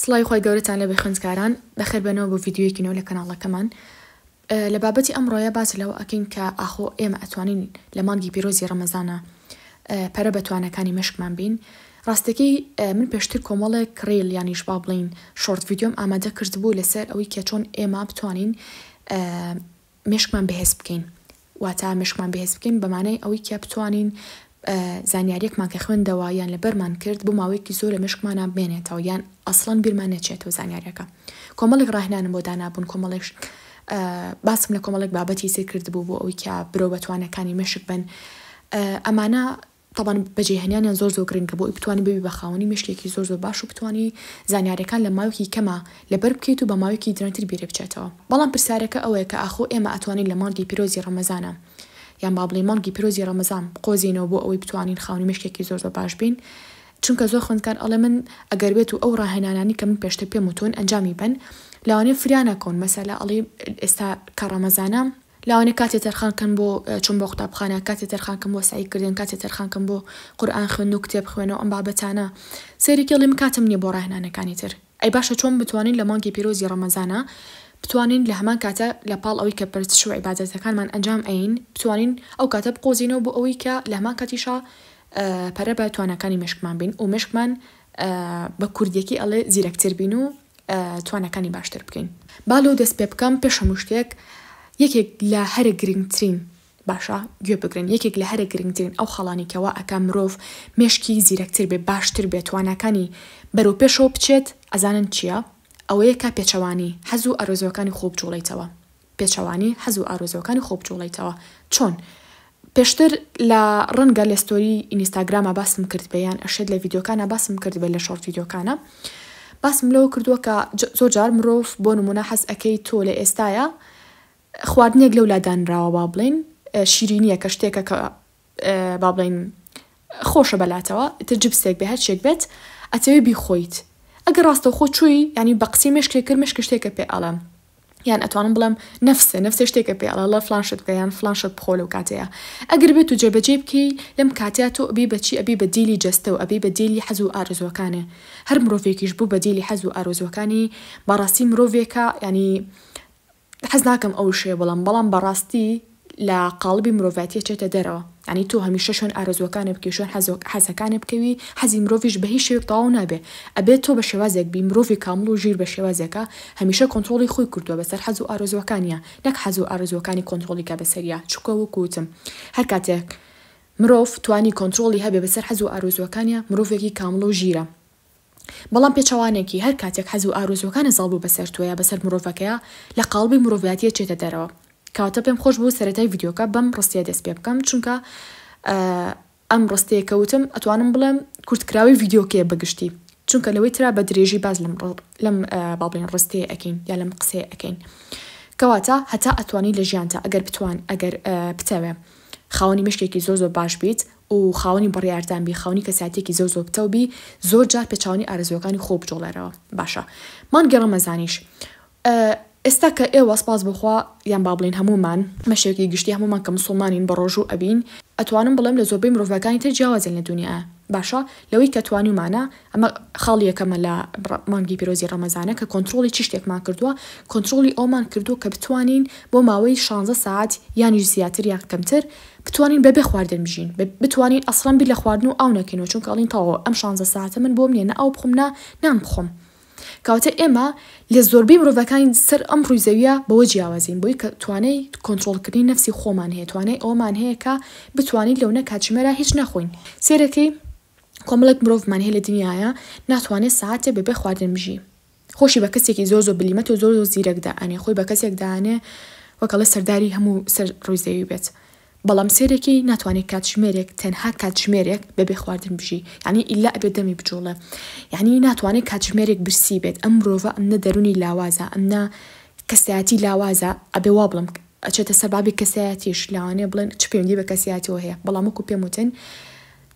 سڵاوی خۆی گەورەتان لە بەخوێندکاران بەخێر بەنەوە بۆ ڤیددیوەیەکی نەوە لە کەناڵەکەمان لە بابەتی ئەم ڕۆیە باس لەوە ئەکەین کە ئاخۆ ئێمە ئەتوانین لە مانگی پیرۆزی ڕەمەزانە پەرە بە توانەکانی مشکمان بین ڕاستەکەی من پێشتر کۆمەڵێک کڕیل یانیش با بڵین شۆرت ڤیددیۆم ئامادە کردبوو لەسەر ئەوەی کە چۆن ئێمە بتوانین مێشکمان بەهێز بکەین واتا مێشکمان بەهێز بکەین بە مانای ئەوەی کە بتوانین زانیاریەکمان کە خوێندەوە یان لەبەرمان کرد بۆ ماوەیەکی زۆر لە مێشکمانە بمێنێتەوە یان ئەسڵەن بیرمان نەچێتەوە زانیاریەکە کۆمەڵێک ڕاهێنانم بۆ دانابوون کۆمەڵێک باسم لە کۆمەڵێک بابەتی سێ کردبوو بۆ ئەوەی کە برەو بەتوانەکانی مێشک بن ئەمانە تەبعەن بەجێهێنانیان زۆر زۆر گرنگە بۆ ئەوی بتوانی ببی بە خاوەنی مێشکێکی زۆر زۆر باش و بتوانی زانیاریەکان لە ماوەکی کەما لەبەر بکەیت و بە ماوەکی درەنتر بیرێ بچێتەوە بەڵام پرسیارەکە ئەوەیە کە ئاخۆ ئێمە ئەتوانین لە مانگی پیرۆزی ڕەمەزانا یان با بڵێین مانگی پیرۆزی ڕەمەزان بقۆزێینەوە بۆ ئەوەی بتوانین خاوەنی مێشکێکی زۆر زۆر باش بین چونکە زۆر خوێندکار ئەڵێ من ئەگەر بێت و ئەو ڕاهێنانانی کە من پێشتر پێم وتوون ئەنجامی بەن لەوانەیە فریا نەکەون مەسەلە ئەڵێ ئێستا کە ڕەمەزانە لەوانە کاتێ تەرخان کەن بۆ چون بۆ قوتابخانە، کاتێ تەرخان کەن بۆ سەعی کردن، کاتێ تەرخان کەن بۆ قورئان خوێندن و کتێب خوێنە و ئەم بابەتانە. سەیرە کێڵی من کاتم نیە بۆ ڕاهێنانەکانی تر. ئەی باشە چۆن بتوانین لە مانگی پیرۆزی ڕەمەزانا بتوانین لە هەمان کاتە لە پاڵ ئەوەی کە پەرستش و عیبادەتەکانمان ئەنجام ئەین بتوانین ئەو کاتە بقۆزینەوە بۆ ئەوەی کە لە هەمان کاتیشا پەرە بە تواناکانی مێشکمان بین و مێشکمان بە کوردیەکی ئەڵێ زیرەکتر بین و تواناکانی باشتر بکەین. با لەو دەست پێ بکەم، پێش هەموو شتێک یەکێک لە هەرە گرنگترین، باشە گوێ بگرن، یەکێک لە هەرە گرنگترین ئەو خاڵانەی کە وا ئەکا مرۆڤ مێشکی زیرەکتر بێ، باشتر بێ، تواناکانی بەرەو پێشەوە بچێت، ئەزانن چییە؟ ئەوەیە کە پێچەوانەی حەز و ئارەزووەکانی خۆ بجوڵێیتەوە. پێچەوانەی حەز و ئارەزووەکانی خۆ بجوڵێیتەوە چۆن؟ پێشتر لە ڕەنگە لە ستۆری ئینیستاگراما باسم کردبێ یان ئەشێت لە ڤیدیۆکانا باسم کردبێ لە شۆڕت ڤیدیۆکانا باسم لەوە کردووە کە زۆر جار مرۆڤ بۆ نمونە حەز ئەکەی تۆ لە ئێستایا خواردنێک لەو لادانراوە با بڵێین شیرینیە کە شتێکە کە با بڵێین خۆشە بەلاتەوە ئیتر جبسێک بێ هەرچێک بێت ئەتەوێ بیخۆیت ئەگەر ڕاستەوخۆ چووی یعنی بە قسەی مێشکێک کرد مێشکە شتێکە پێ ئەڵێم یان ئەتوانم بڵێم نەفسێ نەفسێ شتێکە پێ ئەڵە لە فلان شت بکە یان فلان شت بخۆ لەو کاتەیە ئەگەر بێت و جێبەجێی بکەی لەم کاتەیە تۆ ئەبی بەچی ئەبی بە دیلی جەستە و ئەبی بە دیلی حەز و ئارەزووەکانێ هەر مرۆڤێکیش بوو بە دیلی حەز و ئارەزووەکانی بەڕاستی مرۆڤێکە یعنی حەز ناکەم ئەو وشەیە بڵێم بەڵام بەڕاستی لە قاڵبی مرۆڤایەتیە چێتە دەرەوە یانی تۆ هەمیشە شوێن ئارەزوەکانت بکەی شوێن حەزەکانت بکەوی حەزی مرۆڤیش بە هیچ شێوەیەک تەواو نابێ ئەبێ تۆ بە شێوازێک بی مرۆڤی کامڵ و ژیر بە شێوازێکە هەمیشە کۆنتڕۆڵی خۆی کردوە بەسەر حەز و ئارەزوەکانیا نەک حەز و ئارەزوەکانی کۆنتڕۆڵی کا بەسەریا چونکە وەکو وتم هەر کاتێک مرۆڤ توانی کۆنتڕۆڵی هەبێ بەسەر حەز و ئارەزوەکانیا مرۆڤێکی کامڵ و ژیرە. بەڵام پێچەوانەکی، هەر کاتێک حەز و ئارەزووەکانت زاڵ بوو بەسەر تۆ یا بەسەر مرۆڤەکەیا، لە قاڵبی مرۆڤایەتی ئەچێتە دەرەوە. کەواتە پێم خۆش بوو سەرەتای ڤیدیۆکە بەم ڕستەیە دەست پێ بکەم، چونکە ئەم ڕستەیە کە وتم ئەتوانم بڵێم کورتکراوی ڤیدیۆکەیە بە گشتی، چونکە لەوەی ترا بە درێژی باس لەم لەم با بڵێین ڕستەیە ئەکەین یا لەم قسەیە ئەکەین. کەواتە هەتا ئەتوانی لە ژیانتا ئەگەر بتوان ئەگەر بتەوێ خاوەنی مێشکێکی زۆر زۆر باش بیت و خاوەنی بڕیاردان بی، خاوەنی کەسایەتیەکی زۆر زۆر پتەو بی، زۆر جار پێچەوانەی ئارەزووەکانی خۆو بجوڵێرەوە. باشە من گەڕەمە زانیش ئێستا کە ئێوە سپاس بۆ خوا یان با بڵێین هەموومان بە شێوەکی گشتی هەموومان کە مسوڵمانین بە ڕۆژوو ئەبین ئەتوانم بڵێم لە زۆربەی مرۆڤەکانی تر جیاوازین لە دونیایا باشە لەوەی کە توانیومانە ئەمە خاڵی یەکەمە لە مانگی پیرۆزی ڕەمەزانە کە کۆنتڕۆڵی چ شتێکمان کردووە، کۆنتڕۆڵی ئەوەمان کردووە کە بتوانین بۆ ماوەی شانزە سەعات یانیش زیاتر یان کەمتر بتوانین بەبێ خواردن بژین، بتوانین ئەسڵەن بیر لە خواردن و ئاو نەکەینەوە چونکە ئەڵێین تەواوە ئەم شانزە سەعاتە من بۆم نییە نە ئاو بخۆم نە نان بخۆم، کەواتە ئێمە لە زۆربەی مرۆڤەکانی سەر ئەم ڕووی زەوییە بەوە جیاوازین بۆی کە توانای کۆنتڕۆڵکردنی نەفسی خۆمان هەیە، توانای ئەوەمان هەیە کە بتوانین لەونە کاتژمێرە هیچ نەخۆین، سێرەکەی. کۆمەڵێک مرۆڤمان هەیە لە دنیایا ناتوانێ سەعاتێ بەبێ خواردن بژی خۆشی بە کەسێکی زۆر زۆر بلیمەت و زۆر زۆر زیرەک دائەنێ خۆی بە کەسێک دانێ وەکەڵە سەرداری هەموو سەر ڕووی زەوی بێت بەڵام سێرێکی ناتوانێت کاتژمێرێک تەنها کاتژمێرێک بەبێ خواردن بژی یعنی ئیلا ئەبێ دەمی بجوڵێ یعنی ناتوانێت کاتژمێرێک برسی بێت ئەم مرۆڤە ئەم نە دەرونی لاوازە ئەم نە کەسایەتی لاوازە ئەبێ وا بڵم ئەچێتە سەر بابی کەسایەتیش لاوانێ بڵێن چ پەیوەندی بە کەسایەتەوە هەیە بەڵام وەکو پێم وتن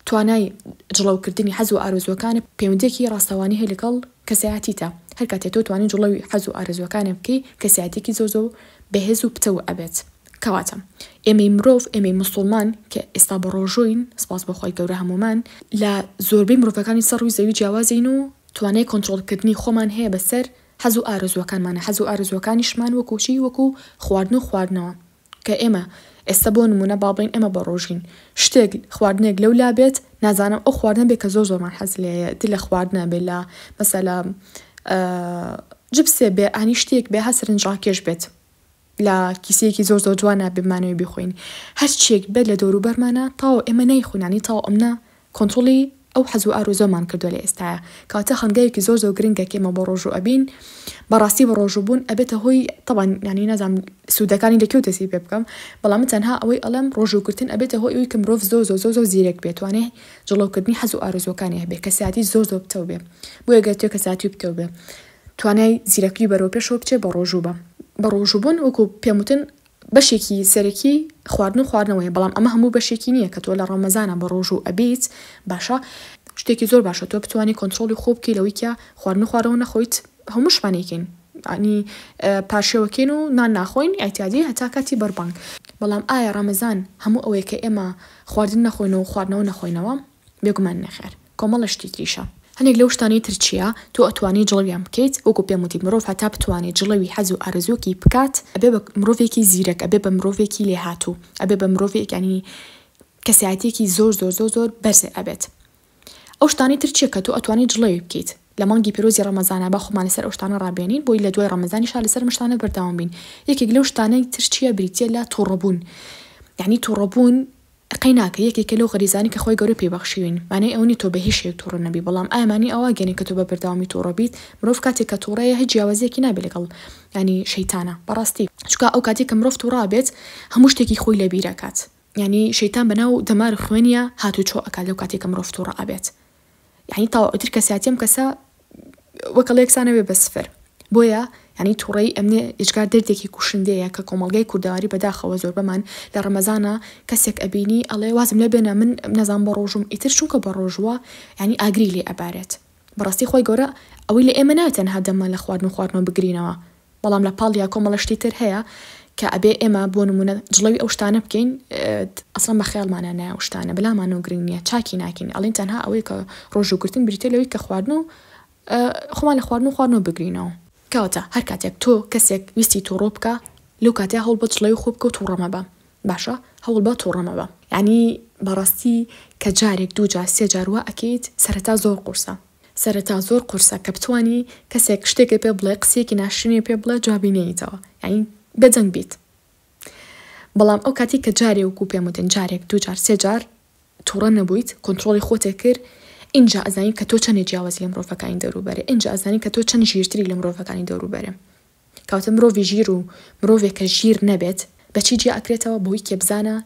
توانای جڵەوکردنی حەز و ئارەزووەکانت پەیوەندییەکی ڕاستەوانی هەیە لەگەڵ کەسایەتیتا، هەر کاتێ تۆ توانی جڵەوی حەز و ئارەزووەکانێ بکەی کەسایەتیەکی زۆر زۆر بەهێز و پتەو ئەبێت کەواتە ئێمەی مرۆڤ ئێمەی موسوڵمان کە ئێستا بەڕۆژووین سوپاس بۆ خوای گەورە هەموومان لە زۆربەی مرۆڤەکانی سەر ڕووی زەوی جیاوازین و توانای کۆنتڕۆڵ کردنی خۆمان هەیە بەسەر حەز و ئارەزووەکانمانا حەز و ئارەزووەکانیشمان وەکوو چی وەکوو خواردن و خواردنەوە کە ئێمە ئێستا بۆ نموونە با بڵێین ئێمە بە ڕۆژین شتێک خواردنێک لەو لا بێت نازانم ئەو خواردنە بێ کە زۆر زۆرمان حەز لێیە دی لە خواردنە بێ لە مەسەلا جبسێ بێ ئانی شتێک بێ هە سەرنجڕاکێش بێت لە کیسەیەکی زۆر زۆر جوانە بمانەوەی بخۆین هەرچێک بێت لە دەوروبەرمانە تاو ئێمە نایخۆنانی تاو ئەمنا کۆنتڕۆڵی ئەو حەزو ئارەزوەمان کردوە لە ئێستایە کەواتە هەنگاوێکی زۆر زۆر گرنگە کە ئێمە بۆ ڕۆژو ئەبین بەڕاستی بە ڕۆژو بوون ئەبێتە هۆی تەبان یانی نازام سودەکانی لە کێو دەسی پێ بکەم بەڵام من تەنها ئەوەی ئەڵێم ڕۆژو گرتن ئەبێتە هۆی ئەوی کە مرۆڤ زۆر زۆر زۆر زۆر زیرەک بێت توانێ جڵەو کردنی حەزو ئارەزوەکانی هەبێ کەسیاتی زۆر زۆر پتەو بێ بۆیە گەر تۆ کەسیاتی پتەو بێ توانای زیرەکی بەرەو پێشەوە بچێ بە ڕۆژو بە بە ڕۆژو بوون وەکو پێم وتن بەشێکی سەرەکی خواردن و خواردنەوەیە بەڵام ئەمە هەموو بەشێکی نیە کە تۆ لە ڕەمەزانا بە ڕۆژوو ئەبیت باشە شتێکی زۆر باشە تۆ بتوانی کۆنتڕۆڵی خۆ بکەی لەوەی کە خواردن و خواردنەوە نەخۆیت هەمووشمان ئەیکەین عنی پارشێوەکەین و نان ناخۆین ئیعتیادی هەتا کاتی بەربانگ بەڵام ئایا ڕەمەزان هەموو ئەوەیە کە ئێمە خواردن نەخۆین و خواردنەوە نەخۆینەوە بێگومان نەخێر. کۆمەڵە شتی تریشە. هەنێک لەو شتانەی تر چیە تۆ ئەتوانی جڵەویان بکەیت وەکو پێم وتی مرۆڤ هەتا بتوانێت جڵەوی حەز و ئارەزووەکی بکات ئەبێ بە مرۆڤێکی زیرەک ئەبێ بە مرۆڤێکی لێهاتوو ئەبێ بە مرۆڤێک یانی کەسایەتیەکی زۆر زۆر زۆر زۆر بەرز ئەبێت ئەو شتانەی تر چیە کە تۆ ئەتوانی جڵەوی بکەیت لە مانگی پیرۆزی ڕەمەزانا با خۆمان لەسەر ئەو شتانە ڕابێنین بۆی لە دوای ڕەمەزانیشا لەسەر ئەم شتانە بەردەوام بین یەکێک لەو شتانەی تر چیە بریتیە لە توڕەبوون یانی توڕەبوون تقەی ناکەی یەکێکە لەو غەریزانەی کە خوای گەورە پێی بەخشیوین مانای ئەوە نیە تۆ بە هیچ شێوەیەک توڕە نەبی بەڵام ئایا مانی ئەوە ئەگەنێ کە تۆ بە بەردەوامی توڕە بیت مرۆڤ کاتێک کە توڕەیە هیچ جیاوازیەکی نابێ لەگەڵ یانی شەیتانە بەڕاستی چونکە ئەو کاتی کە مرۆڤ توڕە ئەبێت هەموو شتێکی خۆی لە بیر ئەکات یانی شەیتان بە ناو دەمار و خوێنیا هاتوو چۆ ئەکات لەو کاتی کە مرۆڤ توڕە ئەبێت یانی تەواو ئیتر کەسایەتی ئەم کەسە وەک ئەڵێ یەکسانە بێ بە سفر بۆیە یعنی تووڕەیی ئەمنێ ئێجگار دەردێکی کوشندەیە کە کۆمەڵگای کوردەواری بەداخەوە زۆربەمان لە ڕەمەزانە کەسێک ئەبینی ئەڵێ وازم لێ بێنە من نەزان بە ڕۆژوم ئیتر چونکە بە ڕۆژووە یعنی ئاگری لێ ئەبارێت بەڕاستی خۆی گەورە ئەوەی لە ئێمە نایە تەنها دەممان لە خواردن و خواردنەوە بگرینەوە بەڵام لە پاڵیا کۆمەڵە شتی تر هەیە کە ئەبێ ئێمە بۆ نموونە جڵەوی ئەو شتانە بکەین ئەسڵەن بە خەیاڵمانا نایە ئەو شتانە بەلامانەوە گرنگ نییە چاکی ناکەین ئەڵێن تەنها ئەوەی کە ڕۆژوو گرتن بریتیە لەوەی کە خواردن و خۆمان لە خواردن و خواردنەوە بگرینەوە. کەواتە هەر کاتێک تۆ کەسێک ویستی توڕۆ بکا لەو کاتەیا هەوڵ بە جڵەوی خۆ بکە و توڕە مەبە باشە هەوڵ بە توڕە مەبە. یەعنی بەڕاستی کە جارێک دوو جار سێ جار وا ئەکەیت سەرەتا زۆر قورسە. سەرەتا زۆر قورسە کە بتوانی کەسێک شتێکت پێ بڵێ قسیەکی ناشرینی پێ بڵێ جوابی نێیتەوە یانی بێ دەنگ بیت بەڵام ئەو کاتی کە جارێ وکو پێم وتن جارێک دوو جار سێ جار توڕە نەبوویت کۆنتترۆڵی خۆتێ کرد اینجا ئەزانی کە تۆ چەندێ جیاوازی لە مرۆڤەکانی دەوروبەرێ اینجا ئەزانی کە تۆ چەند ژیرتری لە مرۆڤەکانی دەوروبەرێ کەواتە مرۆڤی ژیر و مرۆڤێک کە ژیر نەبێت بەچی جیا ئەکرێتەوە بەوەی کێ بزانە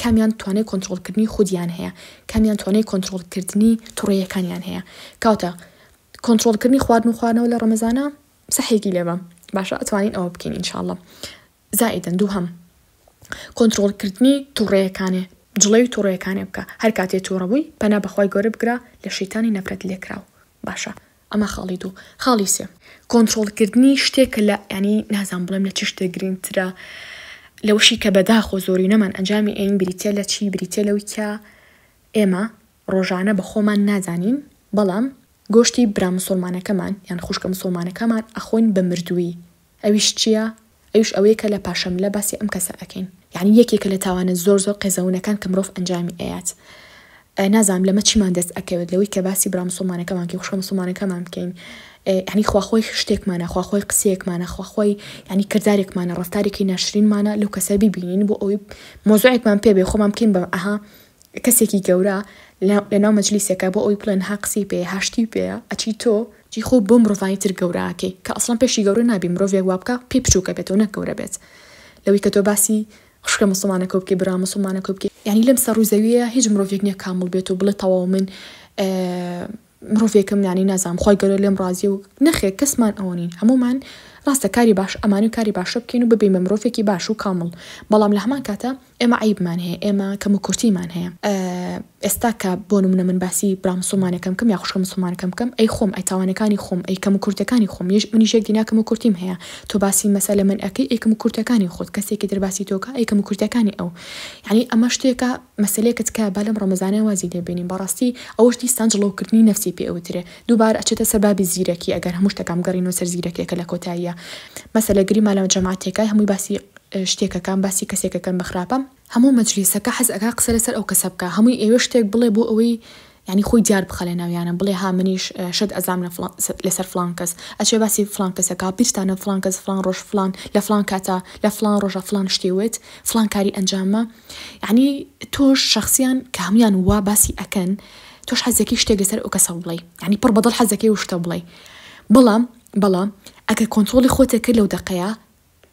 کامیان توانای کۆنترۆڵکردنی خودیان هەیە، کامیان توانای کۆنترۆڵکردنی توڕەیەکانیان هەیە، کەواتە کۆنترۆڵکردنی خواردن و خواردنەوە لە ڕەمەزانە سەحێکی لێ بە باشە ئەتوانین ئەوە بکەین ان شاء اللە زائیدەن دووهەم کۆنترۆڵکردنی توڕەیەکانێ جڵەوی توڕەیەکانێ بکە هەر کاتێ توڕە بووی پەنا بەخوای گەورە بگرە لە شەیتانی نەفرەت لێکراو باشە ئەمە خاڵی دوو خاڵی سێ. کۆنترۆڵ کردنی شتێک کە لە یانی نازانم بڵێم لە چ شتێک گرینگ ترە لەوەشی کە بەداخۆ زۆرینەمان ئەنجامی ئەین بریتە لە چی بریتە لەوی کە ئێمە ڕۆژانە بە خۆمان نازانین بەڵام گۆشتی برا مسوڵمانەکەمان یان خوشکە مسوڵمانەکەمان ئەخۆین بە مردووی ئەویش چیە؟ ئەویش ئەوەیە کە لە پاشەملە باسی ئەم کەسە ئەکەین یانی یەکێکە لە تاوانە زۆر زۆر قێزەونەکان کە مرۆڤ ئەنجامی ئەیات نازانم لەمە چیمان دەست ئەکەوێت لەوەی کە باسی برا مسوڵمانەکەمان کەین خوشکە مسوڵمانەکەمان بکەین یانی خوا خۆی شتێکمانە خوا خۆی قسەیەکمانە خوا خۆی یانی کردارێکمانە ڕفتارێکی ناشرینمانە لەو کەسە ببینین بۆ ئەوی مۆزوعێکمان پێ بێ خۆمان بکەین بە ئەها کەسێکی گەورە لەناو مەجلیسێکە بۆ ئەوی بڵێن ها قسەی پێ هاشتی پێە ئەچی تۆ جی خۆ بۆ مرۆڤانی تر گەورە ئەکەی کە ئەسڵەن پێشی گەورە نابی مرۆڤێک وا بکە پێی بچوکە بێتەوە نەک گەورە بێت لەوی کە تۆ باسی خوشکە موسڵمانەکەو بکەی برا موسڵمانەکەو بکەی یانی لەم سەر و زەویە هیچ مرۆڤێک نیە کامڵ بێت و بڵێ تەواو من مرۆڤێکم یانی نازام خوای گەورە لێم ڕازی و نەخێر کەسمان ئەوە نین هەمومان ڕاستە کاری باش ئەمانوی کاری باشە بکەین و ببین بە مرۆڤێکی باش و کامڵ بەڵام لە هەمان کاتە ئێمە عەیبمان هەیە ئێمە کەم و کورتیمان هەیە ئێستا کە بۆ نمونە من باسی برا مسوڵمانەکەم کەم یا خوشکە مسوڵمانەکەم کەم ئەی خۆم ئەی تاوانەکانی خۆم ئەی کەم و کورتەکانی خۆم یش منیش یەک دینا کەم و کورتیم هەیە تۆ باسی مەسەلە من ئەکەی ئەی کەم و کورتەکانی خۆت کەسێکی تر باسی تۆکە ئەی کەم و کورتەکانی ئەو یعنی ئەمە شتێکە مەسەلەیەکە تکایە با لەم ڕەمەزانە وازی لێ بێنین بەڕاستی ئەوەش دیسان جڵەوکردنی نەفسی پێ ئەوترێ دووبارە ئەچێتە سەر بابی زیرەکی ئەگەر هەموو شتەکان بگەڕێینەوە سەر زیرەکیەکە لە کۆتاییا مەسەلە گەری مالەوە جەماعەتێکە هەمووی باسی شتێکەکان باسی کەسێکەکەن بە خراپە. هەموو مەجلیسەکە حەز ئەکا قسە لەسەر ئەو کەسە بکا هەمووی ئەیەوێ شتێک بڵێ بۆ ئەوەی یانی خۆی دیار بخا لە ناویانا بڵێ ها منیش شت ئەزام لە فڵان لەسەر فڵان کەس ئەچێ باسی فڵان کەس ئەکا بیرتانە فڵان کەس فڵان ڕۆژ فڵان لە فڵان کاتا لە فڵان ڕۆژا فڵان شتی وت فڵان کاری ئەنجامما یانی تۆش شەخسیان کە هەموویان وا باسی ئەکەن تۆش حەز دەکەی شتێک لەسەر ئەو کەسە بڵێی یانی پڕ بە دڵ حەز دەکەی ئەو شتە بڵێی بەڵام بەڵام ئەگەر کۆنتڕۆڵی خۆت ئەکرد لەو دەقەیا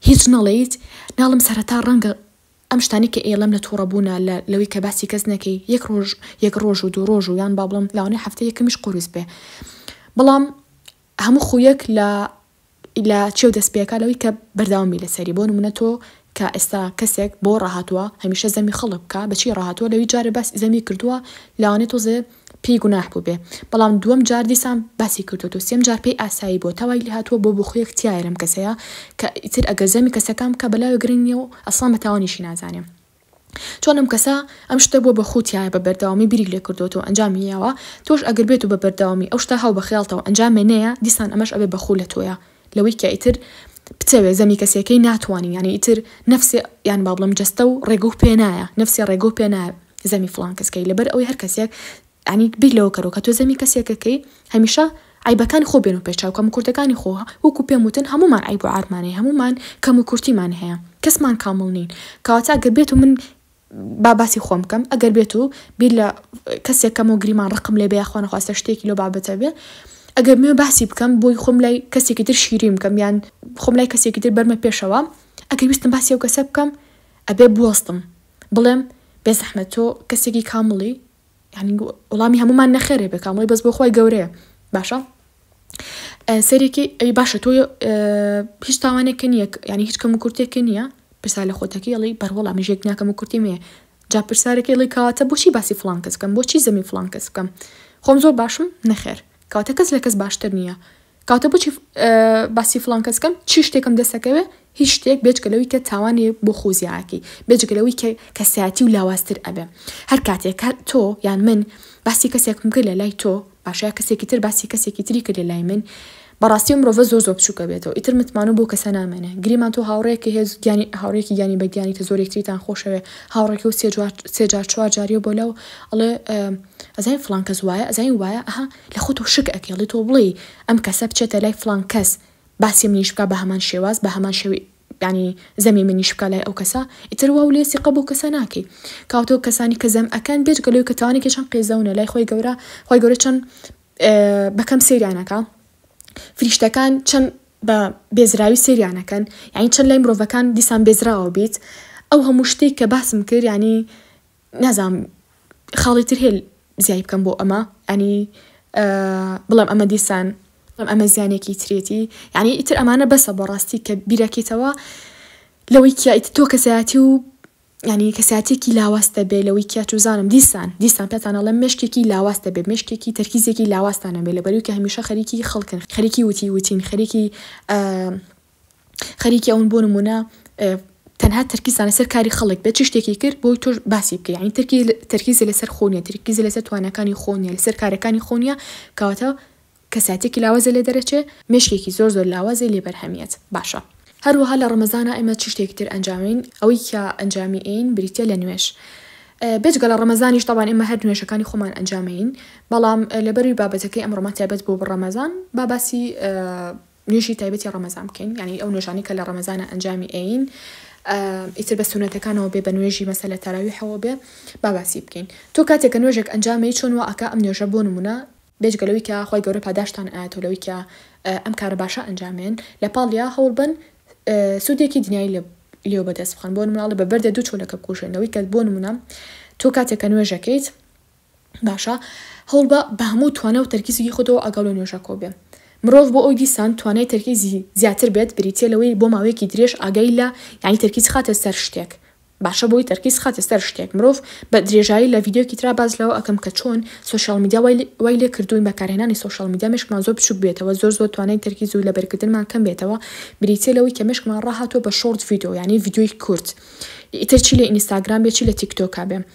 هیچ نەڵێیت ناڵم سەرەتا ڕەنگە ئەم شتانەی کە ئێڵێم لە توڕە بوونە لە لەوەی کە باسی کەس نەکەی یەک ڕۆژ یەک ڕۆژ و دوو ڕۆژ و یان با بڵێم لەوانەیە هەفتەی یەکەمیش قوورس بێ بەڵام هەموو خوویەک لە لە چێو دەست پێکا لەوەی کە بەردەوام بی لەسەری بۆ نموونە تۆ کە ئێستا کەسێک بۆ ڕاهاتووە هەمیشە زەمی خەڵک بکە بەچی ڕاهاتووە لەوی جارێ باسی زەمی کردووە لەوانەیە تۆزێ پێی گوناح بووبێ بەڵام دووەم جار دیسان باسی کردۆتەوە سێم جار پێی ئاسایی بووە تا وای لێ هاتووە بۆ بخویەک تیایە لەم کەسەیا کە ئیتر ئەگەر زەمی کەسەکان بکا بەلاوێ گرنگ نیە و ئەسڵان بە تاوانیشی نازانێ چۆن ئەم کەسە ئەم شتە بووە بە خو تیایە بە بەردەوامی بیری لێ کردۆتەوە ئەنجامی یاوە تۆش ئەگەر بێتو بە بەردەوامی ئەو شتە هاو بە خەیاڵتەوە ئەنجامێ نەیە دیسان ئەمەش ئەبێ بە خو لە تۆیا لەوەی کە ئیتر بتەوێ زەمی کەسێکەی ناتوانی یانی ئیتر نەفسێ یان با بڵێم جەستە و ڕێگە و پێ نایە نەفسێ ڕێگە و پێ نایە زەمی فڵان کەس کەی لەبەر ئەوەی هەر کەسێک یانی بیر لەوە کەرەوە کە تۆ زەمی کەسێکە کەی هەمیشە عەیبەکانی خۆ بێنە پێش چاو کەم و کورتەکانی خۆ وەکوو پێم وتن هەموومان عەیب و عارمان هەیە هەموومان کەم و کورتیمان هەیە کەسمان کامڵ نین کەواتە گەر بێتو من با باسی خۆم بکەم ئەگەر بێت و بیر لە کەسێک کەم و گریمان ڕقم لێ بێ یاخوا نەخواستە شتێکی لەو بابەتە بێ ئەگەر بمێ باسی بکەم بۆی خۆم لای کەسێکی تر شیرین بکەم یان خۆم لای کەسێکی تر بەرمە پێشەوە ئەگەر ویستم باسی ئەو کەسە بکەم ئەبێ بوەستم بڵێم بێ زەحمەت تۆ کەسێکی کامڵی یانی وڵامی هەمومان نەخێرێ بێ کامڵی بەس بۆ خۆی گەورەیە باشە سەرێکی ئەی باشە تۆ هیچ تاوانێکە نیە ینی هیچ کەم و کورتێکە نییە پرسا لە خۆتەکە یڵی بەرهۆڵا مژێک ناکەم و کورتی مێ جا پرسارەکە ڵی کاتە بۆچی باسی فلان کەس بکەم بۆچی زەمی فلان کەس بکەم خۆم زۆر باشم نەخێر کاتە کەس لە کەس باشتر نییە کەواتە بۆچی باسی فڵان کەس کەم چی شتێکم دەسەکەوێ هیچ شتێک بێجگە لەوەی کە تاوانێ بۆ خۆزیاکی بێجگە لەوەی کە کەسایەتی و لاوازتر ئەبێ هەر کاتێک تۆ یان من باسی کەسێکم کرد لە لای تۆ باشە کەسێکی تر باسی کەسێکی تری کرد لە لای من بەڕاستی مرۆڤە زۆر زۆر بچووکە بێتەوە ئیتر متمان و بۆ کەسە نامێنێ گریمان تۆ هاوڕێکی هێز گیانی هاوڕێکی گیانی بە گیانی کە زۆرێک تریتان خۆشەوێ هاوڕێکی و سێجار سێجار چوار جاریە بۆ لەو ئەڵێ ئەزای فلان کەس وایە ئەزای وایە ئەها لە خۆتۆ شک ئەکەی ئەڵێ تۆ بڵێی ئەم کەسە بچێتە لای فڵان کەس باسی منیش بکا بەهەمان شێواز بەهەمان شێوەی یانی زەمی منیش بکا لای ئەو کەسە ئیتر واو لێ سیقە بەو کەسە ناکەی کاواتەو کەسانی کە زەم ئەکەن بێجگە لەوەی کە تاوانێکی چەن قێزەونە لای خۆی گەورە خۆی گەورە چەن بەکەم سەیریان ئەکا فریشتەکان چەن بە بێزراوی سەیریان ئەکەن یانی چەن لای مرۆڤەکان دیسان بێزراوە بیت ئەو هەموو شتێک کە باسم کرد یانی نازانم خاڵی تر هەیە زیای بکەم بۆ ئەمە ئەنی بڵێم ئەمە دیسان بڵێم ئەمە زیانێکی ترێتی یعنی ئیتر ئەمانە بەسە بۆ ڕاستی کە بیرەکەیتەوە لەوەی کیایت تۆ کەسایەتی و ینی کەساتێکی لاواستە بێ لەوەی کیا چوزانم دیسان دیسان پێتانەڵە مشکێکی لاواستە بێ مشکێکی تەرکیزێکی لاواستانە بێ لەبەروی کە هەمیشە خەریکی خەڵکن خەریکی وتی وتین خەریکی خەریکی ئەون بۆ نمونە تەنها تەرکیزان لەسەر کاری خەڵک بێت چ شتێکی کرد بۆی تۆش باسی بکە ینی ترکی تەرکیزی لەسەر خۆنیە ترکیزی لەسەر توانەکانی خۆنیە لەسەر کارەکانی خۆنیە کەواتە کەساتێکی لاوازە لێ دەرەچێ مێشکێکی زۆر زۆر لاوازی لێ بەرهەمیەت باشە هەروەها لە ڕەمەزانا ئێمە چ شتێکی تر ئەنجامین ئەوەی کە ئەنجامی ئەین بریتە لە نوێش بێجگە لە ڕەمەزانیش تاوان ئێمە هەر نوێشەکانی خۆمان ئەنجامین بەڵام لەبەروی بابەتەکەی ئەمڕۆمان تایبەت بۆ بڕەمەزان باباسی نوێژی تایبەتی ڕەمەزان بکەین یعنی ئەو نوێژانەی کە لە ڕەمەزانە ئەنجامی ئەین ئیتر بە سونەتەکانەوە بێ بە نوێژی مەسە لە تەراویحەوە بێ با باسی بکەین تۆ کاتێک کە نوێژێک ئەنجامی چۆن وا ئەکا ئەم نوێژە بۆ نمونە بێجگەلەوەی کە خی گەورە پاداشتان ئاەتەوە لەوەی کە ئەم کارە باشە ئەنجامێن لە پاڵیا هەوڵ بن سوودێکی دنیای لە لێو بەدەست بخەن بۆ مناڵە بە بەردە دوو چۆلەکە بکوژێنەوەی کە بۆ نمونە تۆ کاتێک کە نوێژەکەیت باشە هەوڵبە بە هەموو توانا و تەرکی زگی خۆتەوە ئاگاو لە نوێژەکەوە بێ. مرۆڤ بۆ ئەوی دیسان توانای تەرکیزی زیاتر بێت بریتیە لەوەی بۆ ماوەیەکی درێژ ئاگای لە یانی تەرکیز خاتە سەر شتێک باشە بۆی تەرکیز خاتە سەر شتێک مرۆڤ بە درێژایی لە ڤیدیۆکی ترا باس لەوە ئەکەم کە چۆن سۆشیاڵ میدیا وای وای لێ کردوین بەکارهێنانی سۆشیاڵ میدیا مێشکمان زۆر بچوک بێتەوە زۆر زۆر توانای تەرکیز و لەبەرکردنمان کەم بێتەوە بریتیە لەوەی کە مێشکمان ڕاهاتوە بە شۆرت ڤیدیۆ یانی ڤیدیۆی کورت ئیتر چی لە ئینستاگرام بێ چی لە تیک تۆکا بێ.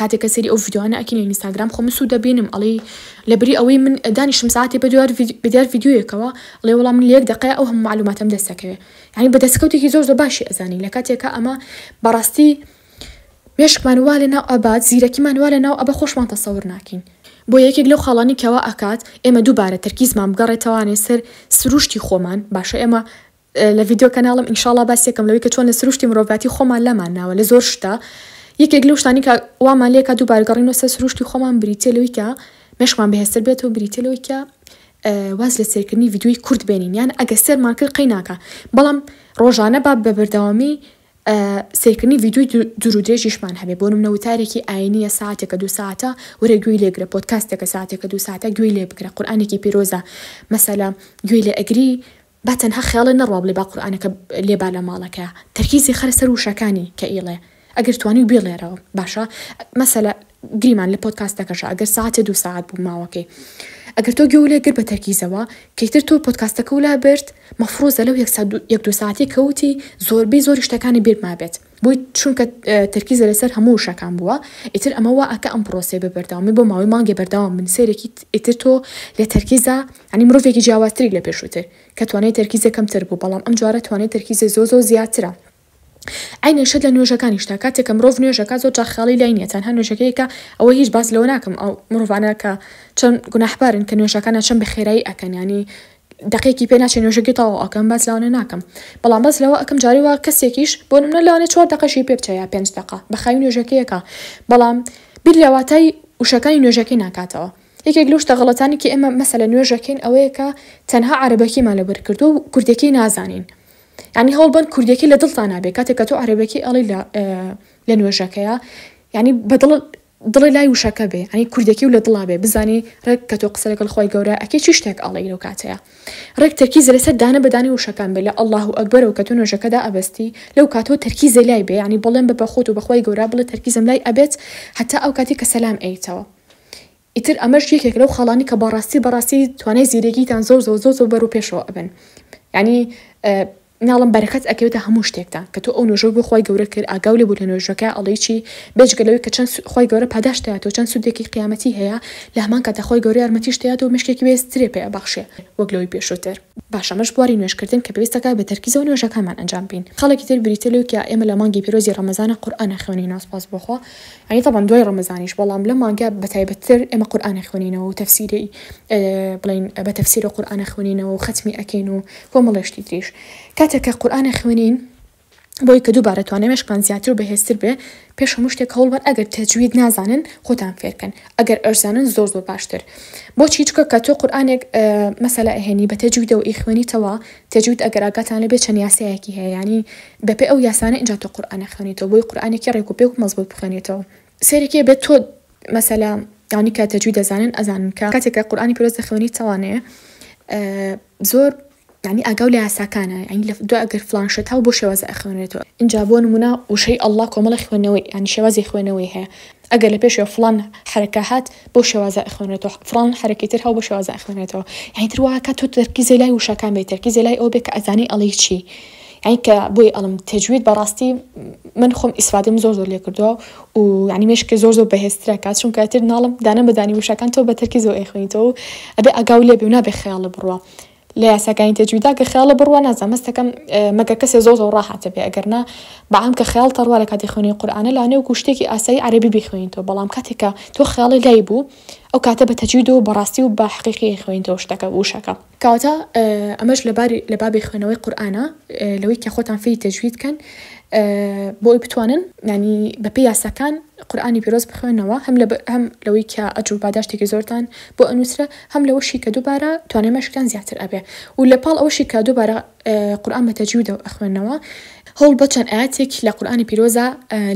کاتێک کە سەیری ئەو ڤیدیۆانە ئەکەین لە ئینستاگرام خۆ من سوود دەبینم ئەڵێی لەبری ئەوەی من دانیشم ساعتی بە دوار بە دیار ڤیددیویەکەوە ئەڵێ وەڵام من لەیەک دقەیە ئەو هەموو معلوماتم دەستەکەوێ یعنی بە دەستکەوتێکی زۆر زۆر باشی ئەزانی لە کاتێکە ئەمە بەڕاستی مێشکمان وا لە ناو ئەبات زیرەکیمان وا لە ناو ئەبە خۆشمان تەسەور ناکەین بۆ یەکێک لەو خاڵانی کەوا ئەکات ئێمە دووبارە تەرکیزمان بگەڕێتەوانێ سەر سروشتی خۆمان باشە ئێمە لە ڤیدیۆ کەناڵم ئینشاڵا باسیەکەم لەوەی کە چۆن لە سروشتی مرۆڤاتی خۆمان لامان ناوە لە زۆر شتا یەکێک لەو شتانی کە وامان لێکا دووبارە گەڕینەوە سەر سروشتی خۆمان بریتە لەوەی کە مێشکمان بەهێزتر بێت و بریتە لەوەی کە واز لە سێرکردنی ڤیدیۆی کورت بێنین یان ئەگە سێرمان کرد قەی ناکە بەڵام ڕۆژانە با بە بەردەوامی سێرکردنی ڤیدیۆی دوور و درێژیشمان هەبێ بۆ منە وتارێکی ئاینیە ساعتێکە دو ساعتە وەرە گوێی لێگرە پۆتکاستێکە ساعتێکە دو ساعتە گوێی لێ بگرە قورآانێکی پیرۆزە مەسەلا گوێی لێ ئەگری با تەنها خەیاڵێ نەڕوا بڵێ با قورئانەکە لێ با لە ماڵەکە تەرکیزی خەرە سەر وشەکانی کە ئیڵێ ئەگەر توانی بیڵێرەوە باشە مەسەلە گریمان لە پۆدکاستەکەشە ئەگەر سەعاتێ دوو سەعات بوو ماوەکەی ئەگەر تۆ گوێو لێ گرت بە تەرکیزەوە کەیتر تۆ پۆدکاستەکەو لا برد مەفروزە لەو یەک سەعات یەک دوو سەعاتەی کەوتی زۆربەی زۆری شتەکانی بیرت مابێت بوویت چونکە تەرکیزە لەسەر هەموو وشەکان بووە ئیتر ئەمە وا ئەکا ئەم پڕۆسەیە بە بەردەوامی بۆ ماوەی مانگێ بەردەوام بن سەیرێکی ئیتر تۆ لە تەرکیزە یانی مرۆڤێکی جیاوازتری لە پێشووتر کە توانای تەرکیزە کەمتر بوو بەڵام ئەم جارە توانای تەرکیزە زۆ زۆ زیاترە عینەن شت لە نوێژەکانیشتا کاتێک کە مرۆڤ نوێژەکە زۆر جار خیاڵی لای نییە تەنها نوێژەکەیەکە ئەوە هیچ باس لەوە ناکەم ئەو مرۆڤانە کە چەند گوناحبارن کە نوێژەکانە چەند بە خێرایی ئەکەن یانی دەقێکی پێ ناچێ نوێژەکەی تەواو ئەکەم باس لەوانە ناکەم بەڵام باس لەوە ئەکەم جارێ وا کەسێکیش بۆ نمونە لەوانەیە چوار دەقەشی پێ بچێ یا پێنج دەقە بە خاوی نوێژەکەی ئەکا بەڵام بیر لە واتای وشەکانی نوێژەکەی ناکاتەوە یەکێک لەو شتە غەڵەتانەی کە ئێمە مەسەلەن نوێژ ئەکەین ئەوەیە کە تەنها عەرەبەکیمان لەبەر کردووە و کوردیەکەی نازانین یعنی هەوڵ بەن کوردیەکەی لە دڵتان نابێ کاتێک کە تۆ عەرەبەکی ئەڵی لە لە نوێژەکەیە یعنی بە دڵ دڵی لای وشەکە بێ یانی کوردێکی و لە دڵا بێ بزانی ڕێک کە تۆ قسە لەگەڵ خوای گەورە ئەکەی چی شتێک ئەڵێی لەو کاتەیا ڕێک تەرکیزە لەسەر دانە بە دانی وشەکان بێ لە اللە و اکبر و کە تۆ نۆژەکەدا ئەبەستی لەو کاتەوە تەرکیزێ لای بێ یانی بەڵێن بە بەخۆت و بەخوای گەورە بڵێ تەرکیزم لای ئەبێت هەتا ئەو کاتی کە سەلام ئەیتەوە ئیتر ئەمەش یەکێکە لەو خاڵانی کە بەڕاستی بەڕاستی توانای زیرەکیتان زۆر زۆر زۆر زۆر بەرەو پێشەوە ئەبەن یانی مناڵم بەرەکەت ئەکەوێتە هەموو شتێکتا کە تۆ ئەو نۆژەوە بۆ خوای گەورە کرد ئاگاو لێ بوو لە نۆژەکە ئەڵێی چی بێجگە لەوەی کە چەند خوای گەورە پاداشت دەیاتەوە چەند سودێکی قیامەتی هەیە لە هەمان کاتا خوای گەورە یارمەتیشت دەیاتەوە مێشکێکی بەهێز ترێ پێ ئەبەخشێ وەک لەوەی پێشووتر. باش ئەمەش بواری نوێژ کردن کە پێویستە کە بە تەرکیزەوە نوێژەکانمان ئەنجام بین خاڵێکی تر بریتیە لەوەی کە ئێمە لە مانگی پیرۆزی ڕەمەزانا قورئان ئەخوێنین ناسپاس بۆ خوا یانی تەبعەن دوای ڕەمەزانیش بەڵام لەم مانگە بە تایبەت تر ئێمە قورئان ئەخوێنینەوە و تەفسیری بڵێین بە تەفسیرە قورئان ئەخوێنینەوە و خەتمی ئەکەین و کۆمەڵێ شتی تریش کاتێک کە قورئان ئەخوێنین بۆی کە دووبارە توانای مێشکتان زیاتر و بەهێزتر بێ پێش هەموو شتێک هەوڵ بەن ئەگەر تەجوید نازانن خۆتان فێرکەن ئەگەر ئەشزانن زۆر زۆر باشتر بۆچی چکە کە تۆ قورآانێک مەسەلا ئەهێنی بە تەجویدەوە ئیخوێنیتەوە تەجوید ئەگەر ئاگاتان لەبێ چەند یاسایەکی هەیە ینی بەپێ ئەو یاسانە ئینجا تۆ قورئان ئەخوێنیتەوە بۆی قورئانێکی ڕێک و پێک و مەزبوت بخوێنێتەوە سەیرێکی ئەبێت تۆ مەسەلا ئەوانەی کە تەجوید ئەزانن ئەزانن کە کاتێک کە قورئانی پیرۆز دەخوێنی چاوانەیە زۆر یعنی ئاگاو لە یاساکانە یعنی لە دو ئەگەر فلان شت هەبوو بۆ شێوازە ئەخوێنێتەوە ئینجا بۆ نمونە وشەی اللە کۆمەڵە خوێنەوەی یعنی شێوازی خوێنەوەی هەیە ئەگەر لە پێشێ فڵان حەرەکە هات بەو شێوازە ئەخوێنرێتەوە، فڵان حەرەکەی تر هاو بەو شێوازە ئەخوێنرێتەوە. یانی تر وا ئەکا تۆ تەرکیزێ لای وشەکان بێ، تەرکیزێ لای ئەوە بێ کە ئەزانی ئەڵێی چی. یانی کە بۆی ئەڵێم تەجوید بە ڕاستی من خۆم ئیسفادەم زۆر زۆر لێ کردووە و یانی مێشکێ زۆر زۆر بەهێزترە کا، چونکە ئیتر ناڵێم دانە بە دانی وشەکان تۆ بە تەرکیزەوە ئەیخوێنیتەوە و ئەبێ ئاگاو لێ بی و نابێ خەیاڵێ بڕوا. لە یاساکانی تەجویدا گەر خەیاڵە بڕوا نازان مەستەکەم مەگەر کەسێ زۆر زۆر ڕاحەتە بێ ئەگەر نا بەعام کە خەیاڵ تەڕوا لە کاتی خوێنی قورآانە لانێ و کوشتێکی ئاسایی عەربی بخوێنیتەوە بەڵام کاتێکە تۆ خەیاڵی لای بوو ئەو کاتە بە تەجوید و بەڕاستی و بە حقیقی خوێنیتەوە شتەکە وشەکە کەواتە ئەمەش لەباری لە بابی خوێنەوەی قورآانە لەوەی کە خۆتان فێری تەجوید کەن بۆی بتوانن نانی بەپی یاساکان قورآانی پیرۆز بخوێنەوە هەم هەم لەوەی کە ئەجر و باداشتێکی زۆرتان بۆ ئەنووسرە هەم لەوەشی کە دووبارە توانای مەشقیان زیاتر ئەبێ و لە پاڵ ئەوەشی کە دووبارە قورئان بە تەجویدەوە ئەخوێنەوە هەوڵ بە چەند ئایەتێک لە قورئانی پیرۆزا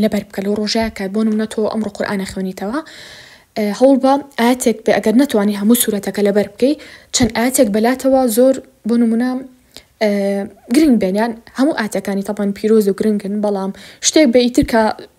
لەبەر بکە لەو ڕۆژەیا کە بۆ نمونە تۆ ئەمڕۆ قورئان ئەخوێنیتەوە هەوڵ بە ئایەتێک بێ ئەگەر نەتوانی هەموو سورەتەکە لەبەر بکەی چەند ئایەتێک بەلاتەوە زۆر بۆ نمونە گرنگ بێن یان هەموو ئایەتەکانی تەبەن پیرۆز و گرنگن بەڵام شتێک بێ ئیتر کە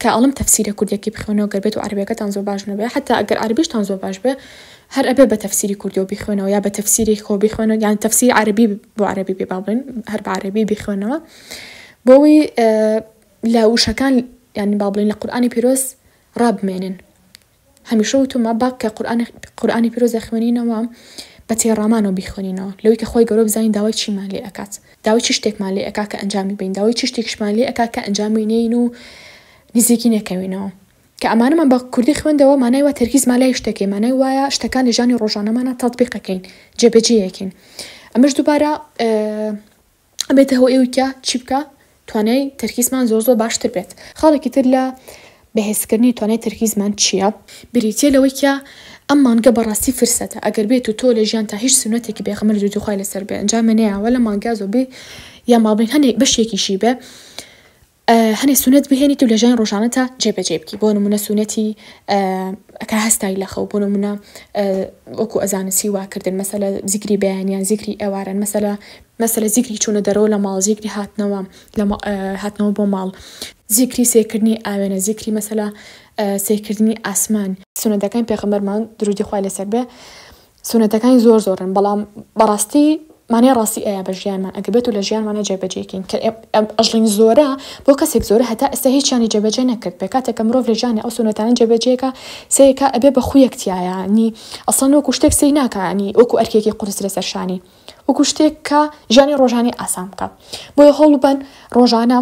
کە ئەڵێم تەفسیرە کوردیەکی بخوێنەوە گەر بێتو عەرەبیەکەتان زۆر باش نەبێ حەتا ئەگەر عەرەبیشتان زۆر باش بێ هەر ئەبێ بە تەفسیری کوردیەوە بیخوێنەوە یا بە تەفسیری خۆ بیخوێنەوە یان تەفسیری عەرەبی بۆ عەرەبی بێ با بڵێن هەر بە عەرەبی بیخوێنەوە بۆوی لە وشەکان یانی با بڵێن لە قورئانی پیرۆز ڕابمێنن هەمیشە وتومە باکە قورئانی قورئانی پیرۆز دەخوێنینەوە بە تێڕامانەوە بیخوێنینەوە لەوەی کە خوای گەورە بزانین داوای چیمان لێ ئەکات داوای چ شتێکمان لێ ئەکا کە ئەنجامی بەین داوای چ شتێکیشمان لێ ئەکا کە ئەنجامی نێین و نزیکی نەکەوینەوە کە ئەمانەمان بە کوردی خوێندەوە مانای وا تەرکیزمان لای شتەکەی مانای وایە شتەکان لە ژانی ڕۆژانەمانە تەتبیقەکەین جێبەجێیەکەین ئەمەش دووبارە ئەبێتە هۆی ئەوی کە چی بکە توانای تەرکیزمان زۆر زۆر باشتر بێت خاڵێکی تر لە بەهێزکردنی توانای تەرکیزمان چییە بریتە لەوەی کە ئەم مانگە بەڕاستی فرسەتە ئەگەر بێت و تۆ لە ژیان تا هیچ سونەتێکی بێغەمەر زوو دوخوای لەسەر بێ ئەنجامێنەیەوە لە مانگا زۆربەی یا مابین هەنێک بەشێکیشی بێ هەنێ سونەت بهێنیت و لەژیانی ڕۆژانەتا جێ بەجێ بکی بۆ نمونە سونەتی کە هەستای لەخەو بۆ نمونە وەکو ئەزانن سیوا کردن مەسەلە زیکری بەیانیان زیکری ئێواران مەسەلە مەسەلە زیکری چونە دەرەوە لە ماڵ زیکری هاتنەوە هاتنەوە بۆ ماڵ زیکری سێرکردنی ئاوێنە زیکری مەسەلە سێرکردنی ئاسمان. سونەتەکانی پێغەمبەرمان دروودی خوای لەسەر بێ سونەتەکانی زۆر زۆرن بەڵام بەڕاستی مانای ڕاستی ئەیە بە ژیانمان ئەگەبێت و لە ژیانمانە جێبەجێکین کە ئەژڵین زۆرە بۆ کەسێک زۆرە هەتا ئێستا هیچیانی جێبەجێ نەکرد پێ کاتێکە مرۆڤ لە ژیانی ئەو سونەتانە جێبەجێکە سەیەکە ئەبێ بە خویەکتیایانی ئەسڵەن وەکو شتێک سەی ناکانی وەکو ئەرکێکی قورس لەسەر شانی وەکو شتێک کە ژیانی ڕۆژانی ئاسان بکە بۆیە هەوڵبەن ڕۆژانە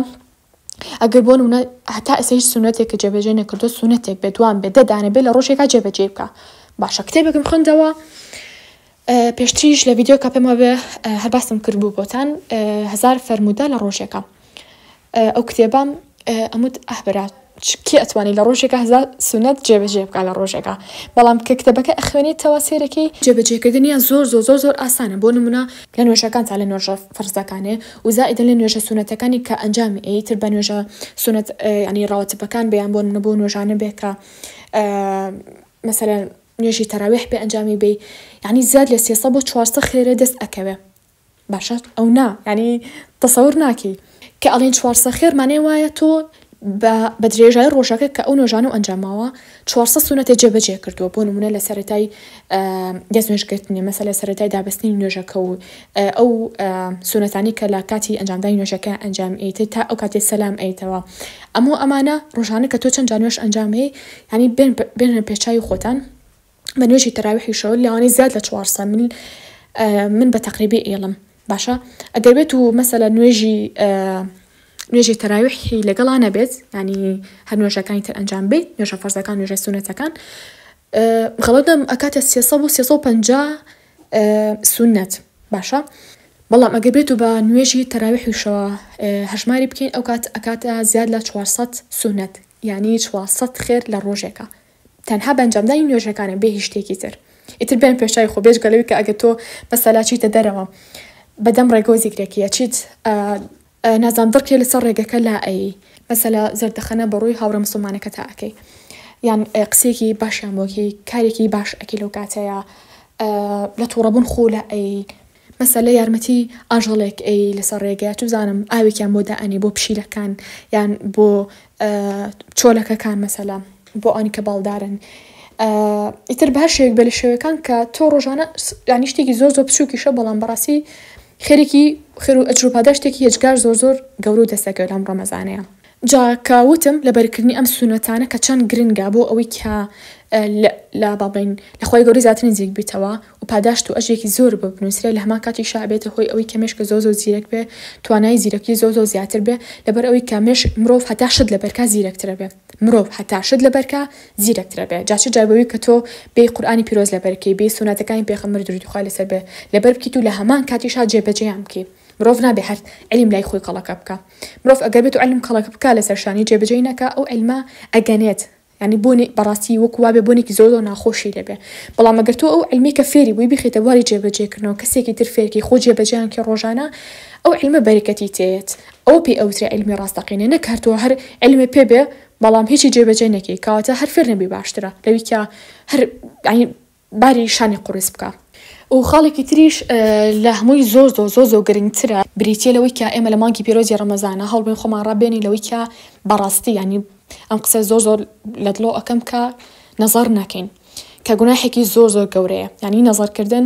ئەگەر بۆ نمونە هەتا ئێستا هیچ سونەتێک کە جێبەجێ نەکردو سونەتێک بێ دوان بێ دە دانە بێ لە ڕۆژێکا جێبەجێ بکە باشە کتێبێکم خوێندەوە پێشتریش لە ڤیددیو کە پێمە بێ هەر باسم کرد بوو بۆتان هزار فەرموودە لە ڕۆژێکە ئەو کتێبام ئەموت ئەهبرات کێ ئەتوانانی لە ڕۆژێکە هزار سونەت جێبەجێ بکە لە ڕۆژێکە بەڵام کە کتەبەکە ئەخوێنێتەوە سێرەکەی جێبەجێکردنیان زۆر زۆر زۆر زۆر ئاسانە بۆ نمونە لە نوێژەکان تا لە نۆژەف فەرز دەکانێ و زائیدەن لە نوێژە سوننەتەکانی کە ئەنجامی ئەی تر بە نوێژە سوننەت یانی ڕەواتبەکان بێ یان بۆ نمونە بەو نوێژانە بێ کە مەسەلەن نوێژی تەراویح بێ ئەنجامی بێ یانی زیاد لە سێسە بۆ چوارسە خێرێ دەست ئەکەوێ باشە ئەو نا یانی تەسەور ناکەی کە ئەڵێن چوارسە خێر مانای وایە تۆ بە بە درێژای ڕۆژەکە کە ئەو نۆژانە و ئەنجاماوە چوار سەد سونەتێ جێبەجێ کردووە بۆ نمونە لە سەرەتای دەستنوێژگرتنی مەسە لە سەرەتای دابستنی نوێژەکە و ئەو سونەتانی کە لە کاتی ئەنجامدانی نوێژەکە ئەنجام ئەیتێت تا ئەو کاتی سەلام ئەیتەوە ئەمە ئەمانە ڕۆژانە کە تۆ چەند جانوێش ئەنجامەیە ینی بێنە پێچوی خۆتان بە نوێژی تەراویح و شەوەل لەوانەیە زیاد لە چوار سا مل من بە تەقریبی ئێڵم باشە ئەگەر بێت و مەسەلە نوێژی نوێژی تەراویحی لەگەڵا نەبێت ینی هەر نوێژەکانی تر ئەنجام بێ نوێژە فەرزەکان نوێژە سونەتەکان خەڵەتم ئەکاتە سێسە بۆ سێسە و پ سونەت باشە بەڵام ئەگە بێت و بە نوێژی تەراوی حوشەوە هەژماری بکەین ئەو کات ئەکاتە زیاد لە 400 سونەت یعنی 400 خێر لە ڕۆژێکە تەنها بەنجامدانی نوێژەکانە بێ هیچ شتێکی تر ئیتر بێن پێش چای خۆ بێجگە لەوی کە ئەگە تۆ مەسەلا چیتە دەرەوە بەدەم ڕێگە و زیکرێکی ئەچیت نازام دڕکێ لەسەر ڕێگەکە لا ئەیی مەسەلا زەردەخەنە بە ڕووی هاوڕێ مسلمانەکە تا ئەکەی یان قسێکی باشیان بۆکی کارێکی باش ئەکی لەو کاتەیە لە تووڕەبوون خۆ لە ئەی مەسەلە یارمەتی ئاژەڵێک ئەیەی لەسەر ڕێگە چ بزانم ئاوێکیان بۆ دائەنێ بۆ پشیلەکان یان بۆ چۆلەکەکان مەسەلە بۆ ئەوانی کە باڵدارن ئیتر بە هەر شێوێک بێ لە شێوەکان کە تۆ ڕۆژانە یانی شتێکی زۆر زۆر بچووکیشە بەڵام بەڕاستی خێرێکی خێر و ئەجر و پاداشتێکی هێجگار زۆر زۆر گەورە و دەستەکەوێت لەم ڕەمەزانەیە جا کە وتم لەبەرکردنی ئەم سوونەتانە کە چەند گرنگە بۆ ئەوەی کە لە با بڵێین لە خوای گەورەی زیاتر نزیک بیتەوە و پاداشت و ئەژێکی زۆر بۆ بنووسرێ لە هەمان کاتیشا ئەبێتە هۆی ئەوەی کە مێشکە زۆر زۆر زیرەک بێ توانای زیرەکی زۆر زۆر زیاتر بێ لەبەر ئەوەی کە مێشک مرۆڤ هەتا شت لەبەر کا زیرەکترە بێ مرۆڤ هەتا شت لەبەر کا زیرەکترە بێ جا چ جای بەوەی کە تۆ بێی قورئانی پیرۆز لەبەر کەی بێی سووناتەکانی پێخەمبەر دروودی خوای لەسەر بێ لەبەر بکەیت و لە هەمان کاتیشا جێ بەجێیان بکەی مرۆڤ نابێ هەر عیلم لای خۆی کەڵەکە بکا. مرۆڤ ئەگەر بێتو عیلم کەڵک بکا لەسەر شانی جێبەجێی نەکا ئەو عیلمە ئەگەنێت یانی بۆنی بەڕاستی وەکو وابێ بۆنێکی زۆر زۆر ناخۆشی لێبێ بەڵام ئەگەر تۆ ئەو عیلمەی کە فێری بووی بیخەیتە بواری جێبەجێکردنەوە کەسێکی تر فێرکی خۆ جێبەجێیان کە ڕۆژانە ئەو عیلمە بەرەکەتی تێیەت ئەوە پێی ئەوترێ عیلمی ڕاستەقینە نەک هەر تۆ هەر عیلمێ پێ بێ بەڵام هیچی جێبەجێ نەکەی کەواتە هەر فێر نەبی باشترە لەوی کە هەر یانی باری شانی قوڕس بکە. و خاڵێکی تریش لە هەمووی زۆر زۆر زۆر زۆر گرنگترە بریتیە لەوەی کە ئێمە لە مانگی پیرۆزی ڕەمەزانە هەوڵبێن خۆمان ڕابێنین لەوەی کە بەڕاستی یانی ئەم قسە زۆر زۆر لە دڵۆ ئەەکەم کە نەزار نەکەین کە گوناحێکی زۆر زۆر گەورەیە یانی نەزارکردن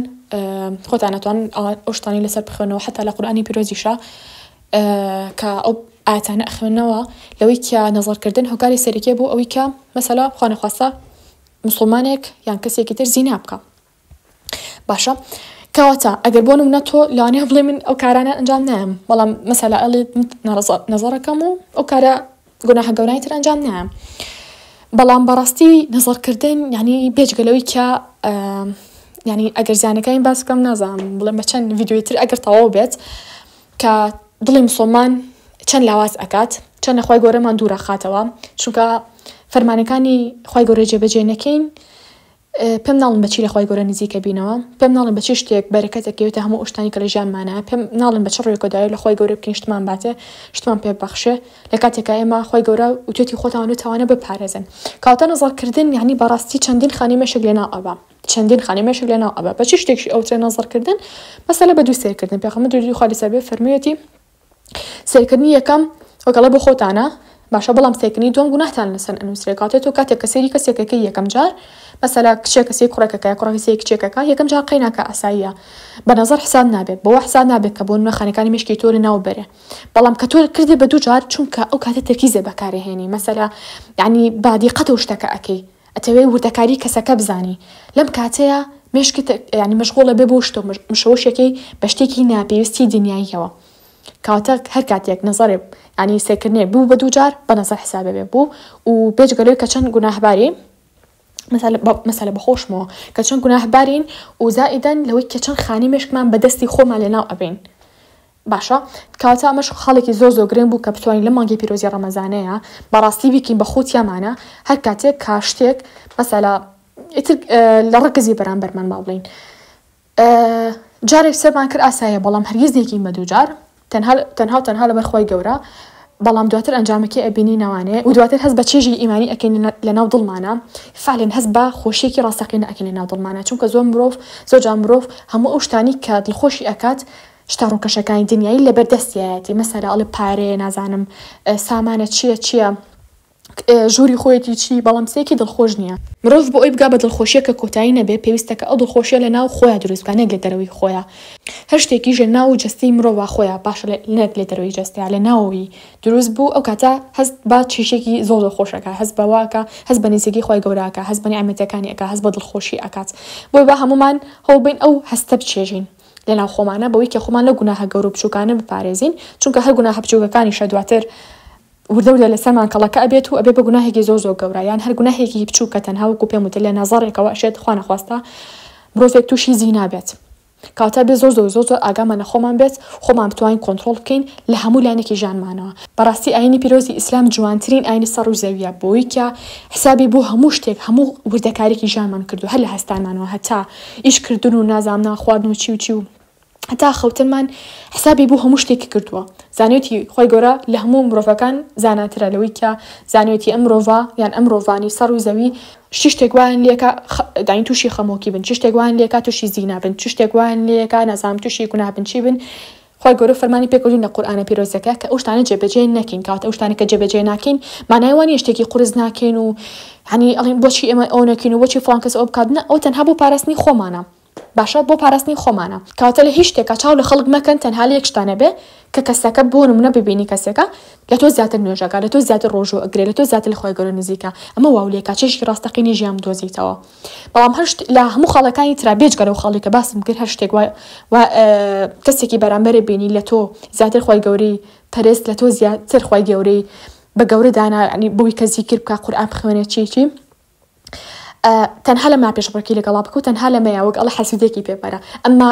خۆتان ناتوان ئەوشتانی لەسەر بخوێنەوە حتا لە قورآانی پیرۆزیشە کە ئەو ئاتانە ئەخوێنەوە لەوەی کە نەزارکردن هۆکاری سەرکێ بۆ ئەوەی کە مەسەلا خۆنەخواستە موسڵمانێک یان کەسێکی تر زینا بکا باشە کەواتە ئەگەر بۆ نمونە تۆ لەوانەیە بڵێ من ئەو کارانە ئەنجام نایم بەڵام مەسەلا ئەڵێت نەزەڕەکەم و ئەو کارە گوناهە گەورای تر ئەنجام نایم بەڵام بەڕاستی نەزەڕکردن یعنی بێجگەلەوەی کە ینی ئەگەر زیانەکانی باس بکەم نازانم بڵێم بە چەند یددیوی تر ئەگەر تەواو بێت کە دڵی مسلمان چەند لاواز ئەکات چەندە خی گەورەمان دوورەخاتەوە چونکە فەرمانەکانی خی گەورە جێبەجێ نەکەین پێم ناڵم بەچی لە خی گەورە نزیکە بینەوە پێم ناڵم بە چ شتێک بەرەکەتەکەوێتە هەموو شتانی کە لە ژیانمانە پێم ناڵم بە چ ڕێکۆداوی لە خی گەورە بکەین شتمان باتێ شتمان پێ بەخشێ لە کاتێکا ئێمە خی گەورە وتێتی خۆتان و تاوانە بپارێزن کاوتە نەزەڵکردن یعنی بەڕاستی چەندین خانی مەشک لێنا ئەبا چەندین خانی مێشک لەناو ئەبا بە چی شتێکی ئەوترێ نەزڕکردن مەسەلە بە دوو سێرکردن پێخەمە دووری خوا لەسەر بێ فەرموویەتی سێرکردنی یەکەم وەکەڵە بۆ خۆتانە باشە بەڵام سێکنی دوم گوناهتان لەسەر ئەنووسێ کاتێت و کاتێک کە سێری کەسێکەکە یەکەم جار مەسەلا کچێک کەسی کوڕێکەکە کوڕەکە سێ کچێکەکە یەکەم جار قەیناکە ئاساییە بە نظر حساب نابێت بۆ حساب نابێت کە بۆ نوێخانەکانی مشکی تۆ لە ناو بەرێ بەڵام کە تۆ کردێ بە دوو جار چونکە ئەو کاتە تەرکیزێ بەکارهێنی مەسەلا یعنی بادی قەتە شتەکە ئەەکەی ئەتەوێ وردەکاری کەسەکە بزانی لەم کاتەیا مێشکت یانی مەشغوڵە بێ بۆ شتۆ مشەوەشەکەی بە شتێکی ناپێویستی دنیاییەوە کەواتە هەر کاتێک نەزەرێ ینی سێکردێ بوو بە دووجار بە نەزەر حسابێ بێ بوو و بێجگەلوی کە چەند گوناهباری مەسەلە بەخۆشمەوە کە چەند گوناهبارین و زائیدەن لەوەی کە چەند خانی مێشکمان بەدەستی خۆمان لەناو ئەبین باشە کاتا مەشق خاڵێکی زۆر زۆر گرنگ بوو کە بتوانین لەم مانگی پیرۆزی ڕەمەزانەیا بەڕاستی بیکەین بە خۆ تیامانە هەر کاتێک کا شتێک مەسەلا ئیتر لە ڕکزی بەرامبەرمان با بڵین جارێک سەرمان کرد ئاسایە بەڵام هەرگیز نێکین بە دووجار تەنها تەنها تەنها لە بەرخوای گەورە بەڵام دواتر ئەنجامەکەی ئەبینی ناوانێ و دواتر هەست بە چێژی ئیمانی ئەکەین لە ناو دڵمانە فعلێن هەست بە خۆشیێکی ڕاستەقینە ئەکەین لە ناو دڵمانە چونکە زۆر مرۆڤ زۆجا مرۆڤ هەموو ئەو شتانی کە دڵخۆشی ئەکات شتە ڕووکەشەکانی دنیای لەبەر دەستیایەتی مەسەلە ئەڵێ پارەیە نازانم سامانە چییە چییە ژووری خۆیەتی چی بەڵام سێکی دڵخۆش نییە. مرۆڤ بۆ ئەوی بگا بە دڵخۆشییە کە کۆتایی نەبێ پێویستە کە ئەو دڵخۆشییە لە ناو خۆیا دروست بکا نەک لە دەرەوەی خۆیا هەر شتێکیش لە ناو جەستەی مرۆڤا خۆیا باشە نەک لە دەرەوەی جەستەیا لە ناوەوی دروست بوو ئەو کاتە هەست بە چیشێکی زۆر زۆر خۆش ئەکا هەست بەوە ئەکا هەست بە نزیکی خوای گەورە ئەکا هەست بە نیعمەتەکانی ئەکا هەست بە دڵخۆشی ئەکات بۆیە با هەموومان هەوڵ بەین ئەو هەستە بچێژین لەناو خۆمانە بەوەی کە خۆمان لەو گوناهە گەورە و بچووکانە بپارێزین چونکە هەر گوناهە بچووکەکانیشە دواتر وردە وردە لەسەرمان کەڵەکە ئەبێت و ئەبێ بە گوناهێکی زۆر زۆر گەورە یان هەر گوناهێکی بچووک کە تەنها وەکو پێم وتە لە نەزەڕێکەوە ئەشێت خوا نەخواستە مرۆڤێک تووشی زینا بێت کاتە بێ زۆر زۆر زۆر زۆر ئاگامان لە خۆمان بێت خۆمان بتوانین کۆنتترۆل بکەین لە هەموو لایەنێکی ژانمانەوە بەڕاستی ئاینی پیرۆزی ئیسلام جوانترین ئاینی سەر و زەویە بۆیکە حسابی بۆ هەموو شتێک هەموو وردەکارێکی ژانمان کردو هەر لە هەستانمانەوە هەتا ئیش کردن و نازامنا خواردن و چی و چی و هەتا خەوتنمان حسابی بۆ هەموو شتێکی کردووە زانیوتی خۆی گەورە لە هەموو مرۆڤەکان زاناترە لەوەی کە زانیوتی ئەم مرۆڤە یان ئەم مرۆڤانی سەر و زەوی چ شتێک وایان لێکا داین تووشی خەمۆکی بن چ شتێک وایان لێکا تووشی زینا بن چ شتێک وایان لێکا نازام تووشی گوناه بن چی بن خوای گەورە فەرمانی پێکردوین لە قورئانە پیرۆزەکە کە ئەو شتانە جێبەجێ نەکەین کەواتە ئەو شتانە کە جێبەجێ ناکەین مانای وانیە شتێکی قورس ناکەین و یعنی ئەڵێن بۆچی ئێمە ئەوە نەکەین و بۆچی فڵان کەس ئەوە بکات نە ئەوە تەنها بۆ پاراستنی خۆمانە باشە بۆ پاراستنی خۆمانە کەواتە لە هیچ شتێکا چاو لە خەڵک مەکەن تەنها لە یەک شتا نەبێ کە کەسەکە بۆ نمونە ببینی کەسێکە لە تۆ زیاتر نوێژ ئەکا لە تۆ زیاتر ڕۆژوو ئەگرێ لە تۆ زیاتر لە خوای گەورە نزیکە ئەمە واو لێکا چێژی ڕاستەقینەی ژیان بدۆزیتەوە بەڵام هەر شت لە هەموو خاڵەکانی ترا بێجگە لەو خاڵی کە باسم کرد هەر شتێک وایە و کەسێکی بەرامبەرە بینی لە تۆ زیاتر خی گەوری پەرست لە تۆ زیاتر خی گەورەی بە گەورە دانا ینی بووی کە زیکر بکە قورآان بخوێنێت چیچی تەنها لە ما پێشڕکی لەگەڵا بکە و تەنها لە مەیە وەک ئەڵە حەسیدێکی پێپەرە ئەمما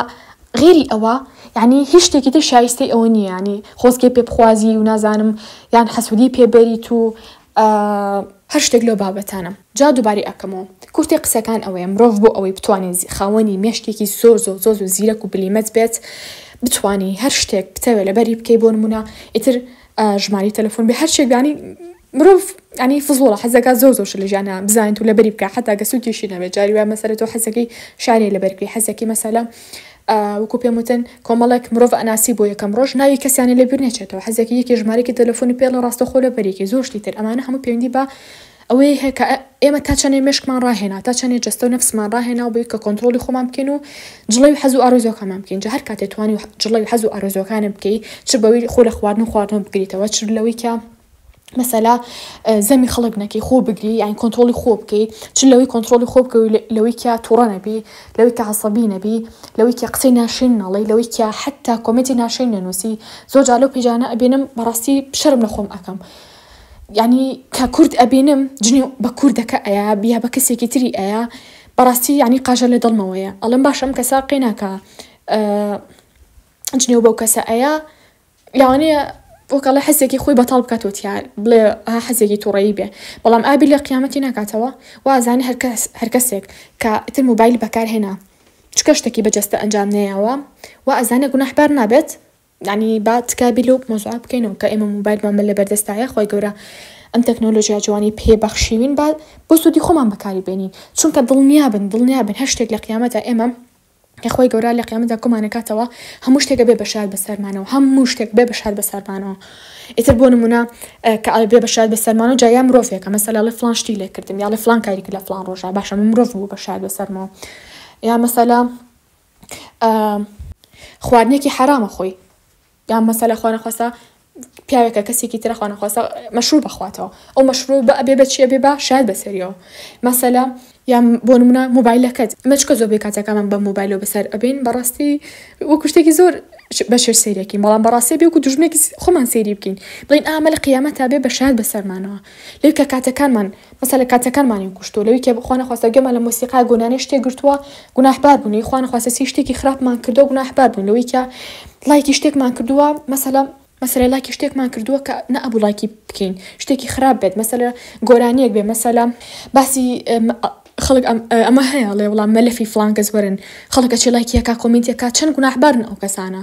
غێری ئەوە یعنی هیچ شتێکی تر شایستەی ئەوە نییانی خۆزگە پێ بخوازی و نازانم یان حەسوودی پێبەریت و ئە. هەر شتێک لەو بابەتانەم جا دوباری ئەکەمەوە کورتی قسەکان ئەوەیە مرۆڤ بۆ ئەوەی بتوانێت خاوەنی مێشکێکی زۆر زۆر زۆر زۆر زیرەک و بلیمەت بێت بتانی هەر شتێک بتەوێت لەبەری بکەی بۆ نمونە ئیتر ژماری تەلەفۆن بێ هەر شێکدانی مرۆڤ ئەنی فزوڵە حەزەکە زۆر زۆر لە ژیانە بزانیت و لەبەری بکە حتا گەسوکیشی نەبێت جاری وای مەسەرەوە حەزەکەی شارێ لەبەرکری حەزەکی مەسەلە وەکو پێم وتن کۆمەڵێک مرۆڤ ئەناسی بۆ یەکەم ڕۆژ ناوی کەسیانە لە بیر نەچێتەوە حەزێکی یەکی ژمارەێکی تەلەفۆنی پێڵ لە ڕاستەخۆ لە بەرێکی زۆشتی تر ئەمانە هەموو پەیوەندی بە ئەوەی هەیە کە ئێمە تا چەنێ مشکمان ڕاهێنا تا چەنێ جستە و نفسمان ڕاهێنا و بی کە کۆنتترۆلی خۆمان بکەین و جڵی و حەز و ئارزۆکەمان بکەین جە هەر کاتێ توانی و جڵی و حەز و ئارزۆکانە بکەی چ بەوی خۆ لە خواردن و خواردن بگریتەوە چ لەوەی کە مەسەلا زەمی خەڵک نەکەی خۆ بگری یان کۆنتترۆلی خۆ بکەی چ لەوەی کۆنتترۆلی خۆ بکە لەوەی کیا تووڕە نەبی لەوەی کە عسەبی نەبی لەوەی کە قسەی ناشرین ناڵی لەوەی کە حتا کۆمەتی ناشین نەنووسی زۆر جا لەو پیجانە ئەبێنم بەڕاستی شەرم لە خۆم ئەەکەم ینی کە کورد ئەبینم جنی بە کوردەکە ئەیە بیا بە کەسێکی تری ئەیە بەڕاستی ینی قاژە لە دڵمەوەیە ئەڵم باشم کەسا قەیناکە جنێو بەو کەسە ئەیە لەوانەیە وەکەڵە حەزێکی خۆی بەتاڵ بکاتەوە تیا بڵێ ها حەزێکی تووڕەیی بێ بەڵام ئابی لە قیامەتی ناکاتەوە وازانە هەرکەس هەرکەسێک کە ئیتر موبایل بەکارهێنا چکە شتێکی بەجەستە ئەنجام نەیەوە و ئەزانە گوناحبار نابێت ینی با تکابی لەو مۆزوع بکەینەوە کە ئێمە موبایلمان بە لە بەردەستایە خۆی گەورە ئەم تەکنۆلۆژیا جوانی پێ بەخشیوین با بۆ سوودی خۆمان بەکاری بێنین چونکە دڵنیابن دڵنیابن هەر شتێک لە قیامەتە ئێمە کە خوای گەورە لە قیامەتدا کۆمان ئەکاتەوە هەموو شتێک ئەبێ بەشار بەسەرمانەوە هەموو شتێک بێ بەشار بەسەرمانەوە ئیتر بۆ نمونە کە ئەبێ بەشار بەسەرمانەوە جا یا مرۆڤێکە مەسەلا لە فلان شتی لێ کردم یا لە فلان کاریک لە فلان ڕۆژە باشە من مرۆڤ بوو بەشار بەسەرمەوە یا مەسەلا خواردنێکی حەرامە خۆی یان مەسەلە خوانەخواستە پیاوێکە کەسێکی ترە خوانەخواستە مەشروب بەخواتەوە ئەو مەشروب بە ئەبێ بەچیە بێ با شاد بەسەریەوە مەسەلا یان بۆ منە موبایلەکەت مەچکە زۆر بێ کاتەکەمان بە موبایلەوە بەسەر ئەبین بەڕاستی و کوشتێکی زۆر بەشێر سێریەکەین بەڵام بەڕاستی بێکو دژمێکی خۆمان سێری بکەین بڵین ئامە لە قیامەت تا بێ بە شاد بەسەرمانەوە لەو کە کاتەکانمان مەسەلە کاتەکانمانین کوشتووە لەوی کە خوا نەخواستە گوێمان لە مۆسیقا گۆنانێ شتێ گرتووە گوناحبار بووین لەوی خوا نەخواستە چی شتێکی خراپمان کردووە گوناحبار بووین لەوی کە ڵایکی شتێکمان کردووە مەسەلە مەسەلە ڵایکی شتێکمان کردووە کە نەئەبوو ڵایکی بکەین شتێکی خراپ بێت مەسەلە گۆرانیەک بێ مەسەلە باسی خەڵک ئەمە هەیە ئەڵێ وڵا مەلەفی فڵان کەس وەرن خەڵک ئەچێ ڵایکی ئەکا کۆمێنتی ئەکا چەن گوناحبارن ئەو کەسانە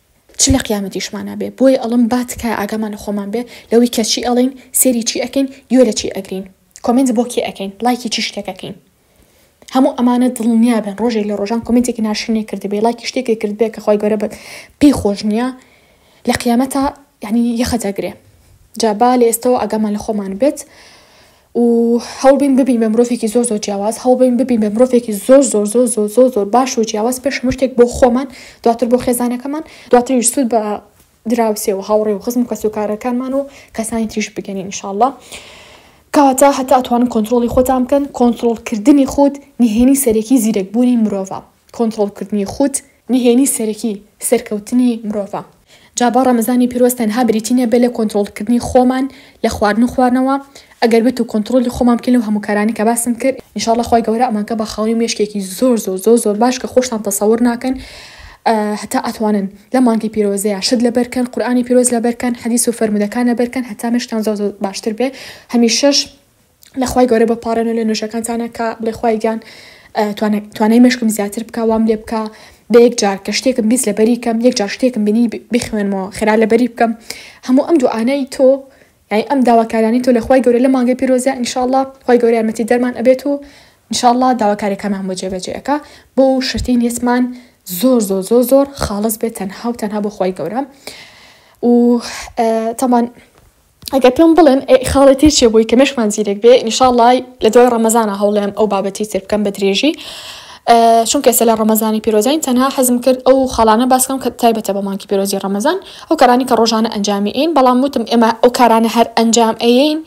چ لە قیامەتیشمانا بێ بۆی ئەڵم با تکایە ئاگامان لە خۆمان بێ لەوەی کە چی ئەڵێین سێری چی ئەکەین گوێ لە چی ئەگرین کۆمێنت بۆ کێ ئەکەین ڵایکی چی شتێک ئەکەین هەموو ئەمانە دڵنیا بن ڕۆژێک لە ڕۆژان کۆمێنتێکی ناشرینێ کردبێ ڵایکی شتێکی کردبێ کە خۆی گەورە بە پێی خۆش نییە لە قیامەتا یعنی یەخەتە گرێ جا با لە ئێستەوە ئاگامان لە خۆمان بێت و هەوڵبین ببین بە مرۆڤێکی زۆر زۆر جیاواز هەوڵبین ببین بە مرۆڤێکی زۆر زۆر زۆر زۆر زۆر زۆر باش و جیاواز پێش هەموو شتێک بۆ خۆمان دواتر بۆ خێزانەکەمان دواتریش سوود بە دراوسێ و هاوڕێ و خزم و کەسوکارەکانمان و کەسانی تریش بگەنین انشاءاللە کەواتە هەتا ئەتوانن کۆنتترۆڵی خۆتان بکەن کۆنتترۆڵکردنی خود نهێنی سەرەکی زیرەکبوونی مرۆڤە کۆنتترۆڵکردنی خود نهێنی سەرەکی سەرکەوتنی مرۆڤە. جا با ڕەمەزانی پیرۆز تەنها بریتی نەبێت لە کۆنتڕۆڵکردنی خۆمان لە خواردن و خواردنەوە، ئەگەر بێت و کۆنتڕۆڵی خۆمان بکەین لەو هەموو کارانەی کە باسم کرد، ان شاء اللە خوای گەورە ئەمانکە بە خاوەنی مێشکێکی زۆر زۆر زۆر زۆر باش کە خۆشتان تەسەور ناکەن هەتا ئەتوانن لەم مانگەی پیرۆزەیا شت لەبەر کەن، قورئانی پیرۆز لەبەر کەن، حەدیس و فەرموودەکان لەبەر کەن هەتا مێشکتان زۆر زۆر باشتر بێت، هەمیشەش لە خوای گەورە بپاڕێنەوە لە نوێژەکانتانا کە بڵێ خوای گیان توانای مشکم زیاتر بکە وام لێ بکە بە یەک جار کە شتێکم بیست لە بەری کەم یەک جار شتێکم بینی بخوێنمەوە خێرا لە بەری بکەم هەموو ئەم دوعاانەی تۆ یعنی ئەم داواکارانی تۆ لە خوای گەورە لە مانگە پیرۆزە انشاءله خی گەورە یارمەتی دەرمان ئەبێت و انشاءله داواکارەکەمان بۆ جێبەجێەکە بۆ شتی نیسمان زۆر زۆر زۆر زۆر خاڵز بێت تەنها و تەنها بۆ خی گەورە و تەمان ئەگەر پێم بڵێن ئەی خاڵی تر چیە بۆی کە مێشکمان زیرەک بێ ان شاء اللە لە دوای ڕەمەزانە هەوڵێم ئەو بابەتی تر بکەم بە درێژی چونکە ئێستا لە ڕەمەزانی پیرۆزین تەنها حەزم کرد ئەو خاڵانە باسکەم کە تایبەتە بە مانکی پیرۆزی ڕەمەزان ئەو کارانی کە ڕۆژانە ئەنجامی ئین بەڵام وتم ئێمە ئەو کارانە هەر ئەنجام ئەیین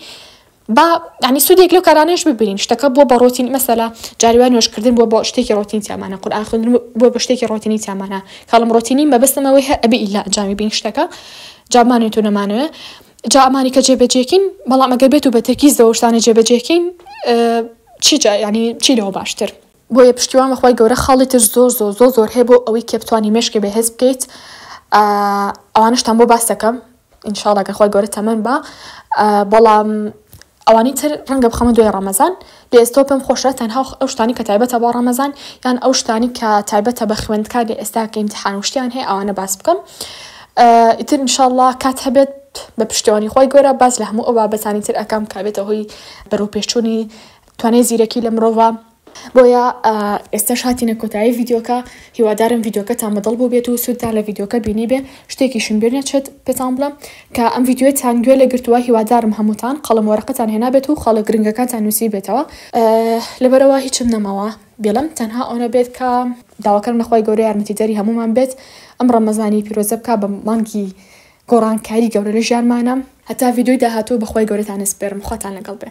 با ینی سوودێک لەو کارانەش ببینین شتەکە بووە بە ڕۆتین مەسەلا جاریوان نوێشکردن بووە بۆ شتێکی ڕۆتین تیامانە قورآن خوێندن بۆ بە شتێکی ڕۆتینی تیامانە کاڵم ڕۆتینی مەبەستمەوەی هە ئەبی ئیلا ئەنجامی بین شتەکە جا بمانەوێت و نەمانەوێت جا ئەمانی کە جێبەجێکین بەڵام ئەگەر بێت و بە تەرکیز دەوە شتانە جێبەجێکین چی جا ینی چی لەوە باشتر بۆیە پشتیوان بەخوای گەورە خاڵی تر زۆر زۆر زۆر زۆر هەیە بۆ ئەوەی کە بتانی مێشکێ بەهێز بکەیت ئەوانشتان بۆ باس دەکەم ئینشاڵا گەر خوای گەورە تەمەن بە بەڵام ئەوانی تر ڕەنگە بخەمە دوای ڕەمەزان لێ ئێستەوە پێم خۆشە تەنها ئەو شتانەی کە تایبەتە بۆ ڕەمەزان یان ئەو شتانەی کە تایبەتە بە خوێندکار لە ئێستا کە ئیمتیحان و شتیان هەیە ئەوانە باس بکەم ئیتر ان شاء اللە کات هەبێت بە پشتیوانی خۆی گەورە باس لە هەموو ئەو بابەتانی تر ئەکەم کە بێتە هۆی بەرەوپێشچوونی توانای زیرەکی لە مرۆڤ بۆیە ئێستاش هاتینە کۆتایی ڤیدیۆکە هیوادارم ڤیدیۆکەتان بەدڵ بوو بێت و سوودتان لە ڤیدیۆکە بینی بێ شتێکیشم بێ نەچێت پێتان بڵم کە ئەم ڤیدیۆتان گوێ لە گرتووە هیوادارم هەمووتان قەڵم وەرەقەتان هێنابێت و خاڵە گرنگەکانتان نووسی بێتەوە لەبەرەوە هیچم نەماوە بێڵم تەنها ئەوە بێت کە داواکەم لەخوای گەورە یارمەتی دەری هەمومان بێت ئەم ڕەمەزانی پیرۆزە بک بە مانگی گۆڕانکاری گەورە لە ژیانمانە هەتا ڤیددیوی داهاتوو بەخوای گەورەتان نسپێرم خواتان لەگەڵ بێ.